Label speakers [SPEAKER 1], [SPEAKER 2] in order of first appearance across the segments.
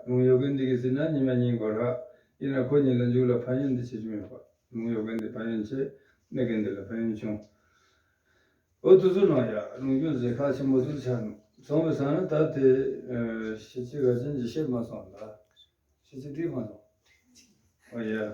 [SPEAKER 1] ལུང་གཡོ་རྒན་འདི་གིས་ཟིན་ན་ཉི་མ་ཉིན་འགོར་ཧ། ཡིན་ན་ཁོ་གཉིས་ལ་འཇུག་ལ་ཕན་ཡོན་འདི་ཆེ་ཆུང་ཡོད་པ། ལུང་གཡོ་རྒན་འདི་ཕན་ཡོན་ཆེ། གནས་རྒན་འདི་ལ་ཕན་ཡོན་ཆུང། ཨོ་དུ་ཟུར་ནང་ཡ། ལུང་ཁྱོད་ཟེར་ཁ་ཆེན་པོ་ཟུར་ཆགས་ནུ། ཚོང་བའི་ཟ་ན་ད་དེ། ཤེ་ཆི་ག་ཅན་གྱིས་བཤད་མ་སོང་ལ། ཤེ་ཆི་འདིས་མ་སོང། ཨོ་ཡ།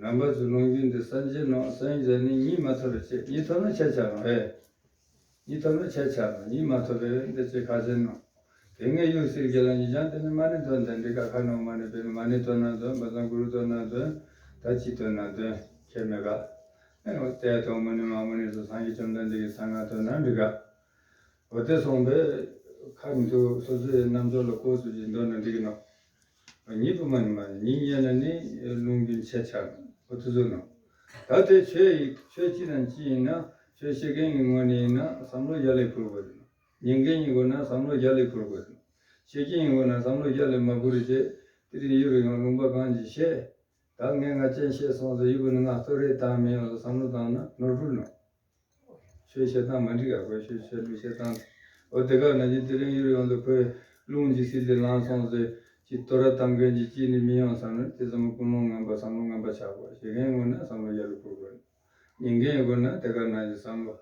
[SPEAKER 1] རྣམ་པ་ཚོས་ལུང་རྒྱུན་འདི་སངས་རྒྱས་ནོ། སངས་རྒྱས་ནི་གཉིས་མ་ཐོབ་པའི་ཕྱིར་གཉིས་ཐོབ་ན་ཁྱད་ཆགས་ནོ། ཧེ། གཉིས་ཐོབ་ན་ཁྱད་ཆགས་ནོ་གཉིས་མ་ཐོབ་པས་འདི་ཅི་ཁ་ཟེར་ནོ། དེ་སྔའི་ཡུགས་སིལ་གྱི་ལ་ཉིས་བྱང་དེ་ནི་མ་ནི་དོན་དང་འདི་ཀ་ཁ་ནོ་མ་ནི་བེ་ནི་མ་ནི་དོན་ན་དོན་འབའ་ཚང་གུ་རུ་དོན་ན་དོན། ད་ཅི་དོན་ན་དོན་ཁྱེད་མི་དགའ། ཨེ། འོ་དེས་དོན་མུ་ནི་མ་མུ་ནི་སོ་སང་གི་བཅོམ་ལྡན་འདས་ཀྱི་ཚང་ང་དོན་ན་འདི་ཀ། འོ་དེ་སོང་བས། ཁ་མི་ཐུག་སོ་སོའི་རྣམ་འབྱོར་ལ་ལྐོག་ཚུལ་གྱིས་འདོད་ན་འདི་ཀི་ནོ། ཉིད་དུ་མ་ནི་མ་ནི་ཉིད་དབྱེ་ན་ནི་རླུང་གི་མཆེད་ཆགས་པ་དུ་ཟུག་ནོ། ད་དེ་ཆོས་ཡིན་ཆོས་སྤྱི་དང་སྤྱི་ཡིན་ན་ཆོས་ཤེས་མཁན་གྱི་ངོ་ནས་ཡིན་ན་བསམ་བློ་བརྒྱ་ལས་འཕུར་དགོས་ནོ། ཉན་མཁན་གྱི་མགོ་ན་བསམ་བློ་བརྒྱ་ལས་འཕུར་དགོས་ནོ། ཤེས་མཁན་གྱི་མགོ་ན་བསམ་བློ་བརྒྱ་ལས་མ་འཕུར་རིག་བྱེད་ཀྱི་རིག་ཡུལ་རོ་ཡང་ལུང་པ་གང་གྱིས་བཤད། ད་ངས་ང་རྐྱེན་བཤད་སོང་ཟེར་ཡུལ་བུ་ནི་ང་གཙོ་རེད་དང་མི་ཡོངས་ལ་བསམ་བློ་བཏང་ན་ནོར་འཁྲུལ་ནོ། ཞེས་བཤད་སྟངས་མ་འགྲིག་ཡག་པོ་ཞེས་བཤད་ལུགས་བཤད་སྟངས་འོ་དེ་ག་ན་བཞིན་དེ་རིང་གཡུར་ཡོང་དུ་ཁོས་རླུང་ཇི་སྲིད་ལས་ལངས་སོང་ཟེར་གྱི་དོ་ར་དམ་མཁན་གྱི་སྐྱིད་ནི་མི་ཡོང་བསམ་ནས་དེ་ཙམ་ཀུན་སློང་ངན་པ་བསམ་བློ་ངན་པ་ཆགས་དགོས་ཞེ་མཁན་དངོས་ན་བསམ་བློ་རྒྱ་ལ་འཁུར་དགོས་ནོ། ཉན་མཁན་དགོས་ན་དེ་ག་ན་བཞིན་བསམ་བློ་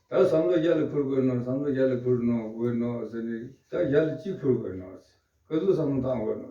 [SPEAKER 1] ད་བསམ་བློ་རྒྱ་ལ་འཁུར་དགོས་ནོ་བསམ་བློ་རྒྱ་ལ་འཁུར་ནོ་དགོས་ནོ་ཟེར་ནས་ད་རྒྱ་ལ་ཅི་འཁུར་དགོས་ནོ། ག་ཚོད་བསམ་བློ་བཏང་དགོས་ནོ།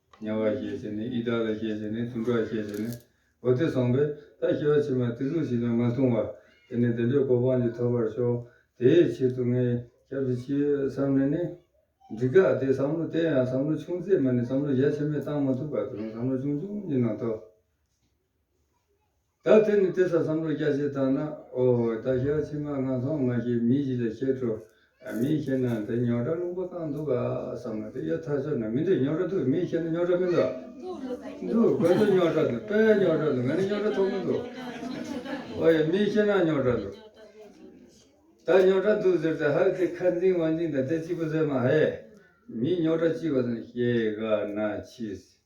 [SPEAKER 1] དམྱལ་བར་ཤེས་བྱས་ནས་ཨི་དག་ལ་ཤེས་བྱས་ནས་ཐུན་ཕྲག་ཤེས་བྱས་ནས་བོ་དེ་བཟང་པོས་ད་ཤི་བ་ཕྱི་མ་དེ་ལུགས་ཞིག་ན་མ་མཐོང་བར་དེ་ནས་བདེན་པའི་གོ་འཕང་གཅིག་ཐོབ་པར་ཤོག་དེའི་ཕྱིར་དུ་ངས་སྐྱབས་སུ་མཆི་བསམ་ནས་ནི། འདི་ག་དེ་བསམ་བློ་བསྟན་ཡང་བསམ་བློ་ཆུང་ཚད་མ་ནི་བསམ་བློ་རྒྱ་ཆེན་པོས་བཏང་མ་ཐུབ་ཁག་ཏུ་རུང་བསམ་བློ་ཆུང་ཆུང་གཉིས་ནང་དོ། ད་དེ་ནི་དེ་ས་བསམ་བློ་སྐྱ་ཤེས་བཏང་ན་ཨོ་ད་ཞག་ཕྱི་མ་ང་ཚང་མ་ཞིག་མི་གཞི་ལ་ཤེས་འཕྲོ་མི་ཤེས་ན་དེ་ཉོག་དྲ་རླུང་པོ་བཏང་འདུག་ག་བསམ་ན་དེ་ཡོད་ཐག་ཆོད་ན་མི་འདུག་ཉོག་དྲ་འདུག་མི་ཤེས་ན་ཉོག་དྲ་མི་འདུག་འདུག་དགོས་འདུག་ཉོག་དྲ་འདུག་དཔེ་ཉོག་དྲ་འདུག་མེད་ན་ཉོག་དྲ་ཐོག་མི་འདུག་ཨོ་ཡ་མི་ཤེས་ན་ཉོག་དྲ་འདུག་ད་ཉོག་དྲ་འདུག་ཟེར་ཏེ་ཧ་ལས་དེ་ཁ་འཛིང་བ་འཛིང་དང་དེ་གཅིག་པུ་ཟེར་མ་ཧེ་མི་ཉོག་དྲ་གཅིག་པ་ཙམ་ཤེས་ག་ན་མཆིས།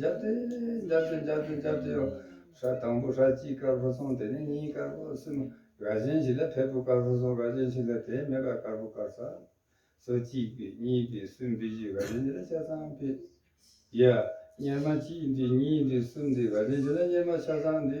[SPEAKER 1] འཇབ་སྟེ། འཇབ་སྟེ་འཇབ་སྟེ་འཇབ་སྟེ། ཧྲཱི། དང་པོ་ཧྲཱི་གཅིག་དཀར་པོ་སོང་དེ་ནས་གཉིས་དཀར་པོ་གསུམ། རྭ་ཅན་ཞིག་ལ་བལ་པོ་དཀར་པོ་སོང་རྭ་ཅན་ཞིག་ལ་དེའི་མེ་དཀར་དཀར་པོ་དཀར། ས་སོ་གཅིག་པི་གཉིས་པི་གསུམ་པི་བཞི་རྭ་ཅན་ཞིག་ལ་ཆ་ཚང་པི། ཡ། གཉེར་མ་གཅིག་འདི་གཉིས་འདི་གསུམ་འདི་རྭ་ཅན་ཞིག་ལ་གཉེར་མ་ཆ་ཚང་འདི།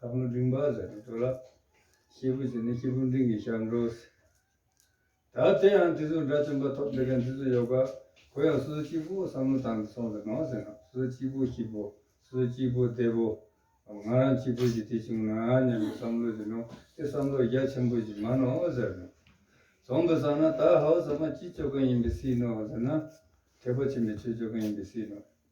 [SPEAKER 1] ལྷ་ཀླུ་འབྲིང་བ་ཟེར་ནས་འགྲོ་ལ། སྐྱེས་བུ་ཟེར་ནས་སྐྱེས་བུ་འབྲིང་གི་ཞར་འགྲོ། ད་དེ་ཡང་དེ་ཚོའི་དགྲ་བཅོམ་པ་ཐོབ་འདོད་མཁན་དེ་ཚོ་ཡོད་ཀ། གུ་ཡང་སོ་སོ་སྐྱིད་པོ་བསམ་བློ་བཏང་སྟེ་སོང་ཟེར་ནོ་ཟེར་ན་སོ་སོ་སྐྱིད་པོ་སྐྱིད་པོ། སོ་སོ་སྐྱིད་པོ་བདེ་པོ། ང་རང་སྐྱིད་པོ་ཞིག་དེ་བྱུང་ན་སྙམ་པའི་བསམ་བློ་ཡིན་ནོ་དེ་བསམ་བློ་རྒྱ་ཆེན་པོ་ཞིག་མ་ནོ་ཟེར་ནོ། བཟང་པོ་བཟང་ན་ད་ཧའོ་ཟ་མ་སྐྱིད་ཆོས་གང་ཡིན་པའི་སྲིད་ནོ་ཟེར་ན། དད་པ་ཆེན་པོས་ཆོས་ཆོས་གང་ཡིན་པའི་སྲིད་ནོ།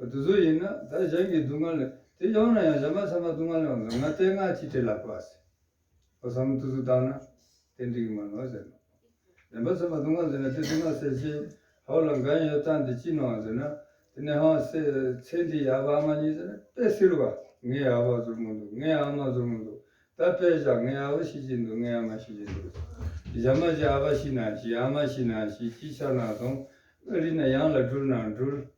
[SPEAKER 1] བདུད་བཟོ་ཡིན་ན་ད་གཞན་གྱི་སྡུག་བསྔལ་དེ་ཡོང་ན་ཡང་གཞན་མ་ཚང་མ་སྡུག་བསྔལ་ཡོང་ཟེར་ང་ལྟས་ང་གཅིག་བྲེལ་ལ་བབས་ཟེར། ཨོ་ས་མོ་ཏུ་ཏུ་བཏང་ན་དེ་འགྲིག་མ་གནང་ཟེར་ནོ། གཞན་པ་ཚང་མ་སྡུག་བསྔལ་ཟེར་ན་དེ་སྡུག་བསྔལ་ཟེར་ཞེས་ཧོ་ལ་འགན་ཡོད་ལྟ་འདི་ཅི་གནང་ཟེར་ན་དེ་ནས་ཧང་ཟེར་ཚེ་འདི་ཡག་པ་ཨ་མ་གཉིས་ཟེར་ན་དཔེ་བསིལ་བ། ངའི་ཨ་ཕ་ཟུར་མོ་འདུག་ངའི་ཨ་མ་ཟུར་མོ་འདུག་ད་དཔེ་བཞག་ངའི་ཨ་ཕ་ཤི་ཅིག་འདུག་ངའི་ཨ་མ་ཤི་ཅིག་འདུག་གཞན་མ་ཅིག་ཨ་ཕ་ཤི་ན་ཤི་ཨ་མ་ཤི་ན་ཤི་ཅིག་ཆགས་ན་སོང་ཨ་རི་ན་ཡང་ལ་སྒྲུར་ན་སྒྲུར།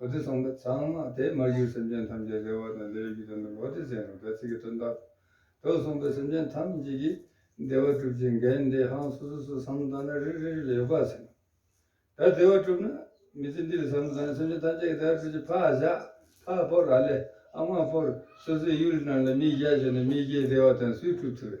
[SPEAKER 1] ཨོ་དེ་ཚངས་པའི་ཚངས་མ་དེས་མ་གཞིར་སེམས་ཅན་ཐམས་ཅད་བདེ་བ་དང་བདེ་བའི་རྒྱུ་དོན་དུ་ཨོ་དེ་ཟེར་ནས་བད་ཚིག་གི་དོན་བཏགས། དོན་གསུངས་པས་སེམས་ཅན་ཐམས་ཅད་ཀྱིས་བདེ་བ་གྲུབ་ཅིང་འགལ་འདས་ཧང་སོ་སོ་སོ་སམ་དང་ནི་རིགས་རིགས་རིགས་ལ་ཡོད་པར་ཟིན་ནོ། ད་བདེ་བ་གྲུབ་ན་མི་ཚེ་འདི་ལས་སམ་དང་ནི་སེམས་ཅན་ཐམས་ཅད་ཀྱི་བདེ་བ་གྲུབ་ཅིང་ཕག་བཞག་ཕག་ཕོར་ར་ལས་ཨ་མ་ཕོར་སོ་སོའི་ཡུལ་རྣམས་ལ་མི་བཞག་ཅིང་ནི་མི་བཞེད་བདེ་བ་དང་སུས་གྲུབ་ཐུབ་བམ།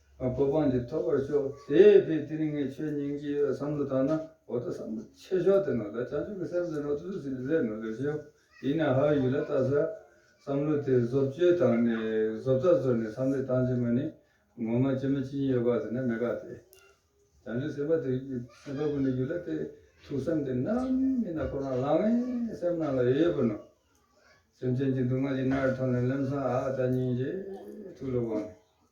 [SPEAKER 1] གོ་འཕང་འདི་ཐོབ་པར་ཤོག། དེས་དེའི་ཏིང་ངེ་འཆོས་སྙིང་རྗེ་ཡོད་བསམ་བློ་བཏང་ན་འོ་ད་བསམ་བློ་ཆེ་ཤོག་དེ་ནོར་ལ་བྱང་ཆུབ་ཀྱི་སེམས་ཟིན་རོགས་ཐུགས་རྗེ་ཆེ་ཞེས་ལན་ནོར་ལེགས་ཤོག་ཡིན་ནའང་ཧའོ་ཡུས་ལ་བལྟ་ས། བསམ་བློ་དེ་བཟོ་བཅོས་བཏང་ནས་བཟོ་ལྟ་བཟོ་ནས་བསམ་བློས་བཏང་རྗེས་མ་ནི་ངོ་མ་ཅི་མ་ཅི་ཡིན་ཡོད་པ་དེ་ནི་མི་དགའ་སྟེ། བྱང་ཆུབ་སེམས་དཔའ་དེ་སེམས་དཔའ་ཀུན་ནས་རྒྱུད་ལ་བལྟས་ཐུགས་བསམ་དེ་ནམ་ཡིན་ན་ཁོ་རང་ལང་བས་སེམས་ནང་ལ་ཡོད་ཡོད་པར་ནོར། སེམས་ཅན་གྱི་སྡུག་བསྔལ་གྱི་སྣར་ཐོན་ནས་སླེབས་སམ་ཨ་ད་སྙིང་རྗེ་ཐུགས་ལ་དབང།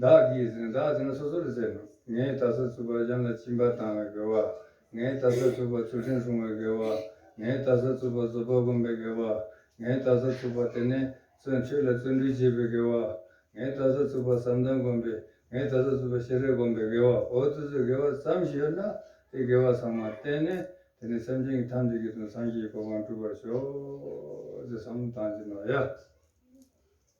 [SPEAKER 1] བདག་གིས་ཟིན་བདག་ཟིན་ལ་སོ་སོར་བརྩེ་ན། ངས་ད་གཟོད་ཚུར་པར་གཞན་ལ་བྱིན་པ་བཏང་བའི་དགེ་བ། ངས་ད་གཟོད་ཚུར་པར་ཚུལ་ཁྲིམས་སྲུང་བའི་དགེ་བ། ངས་ད་གཟོད་ཚུར་པར་རྫོགས་པར་བསྒོམ་པའི་དགེ་བ། ངས་ད་གཟོད་ཚུར་པར་དེ་ནས་བརྩོན་འགྲུས་ལ་བརྩོན་འགྲུས་བསྐྱེད་པའི་དགེ་བ། ངས་ད་གཟོད་ཚུར་པར་བསམ་གཏན་བསྒོམ་པས་ངས་ད་གཟོད་ཚུར་པར་ཤེས་རབ་བསྒོམ་པའི་དགེ་བ། འོ་ད་གཟོད་དགེ་བ་ཙམ་ཞིག་ཡོད་ན་དེ་དགེ་བ་ཚང་མ་བསྟེན་ནས་དེ་ནས་སེམས་ཅན་གྱི་ཐམས་ཅད་ཀྱི་དོན་སངས་རྒྱས་ཀྱི་གོ་འཕང་སྒྲུབ་པར་ཤོག། ཅེས་བསམ་བློ་བཏང་རྗེས་ནོར་ཡ།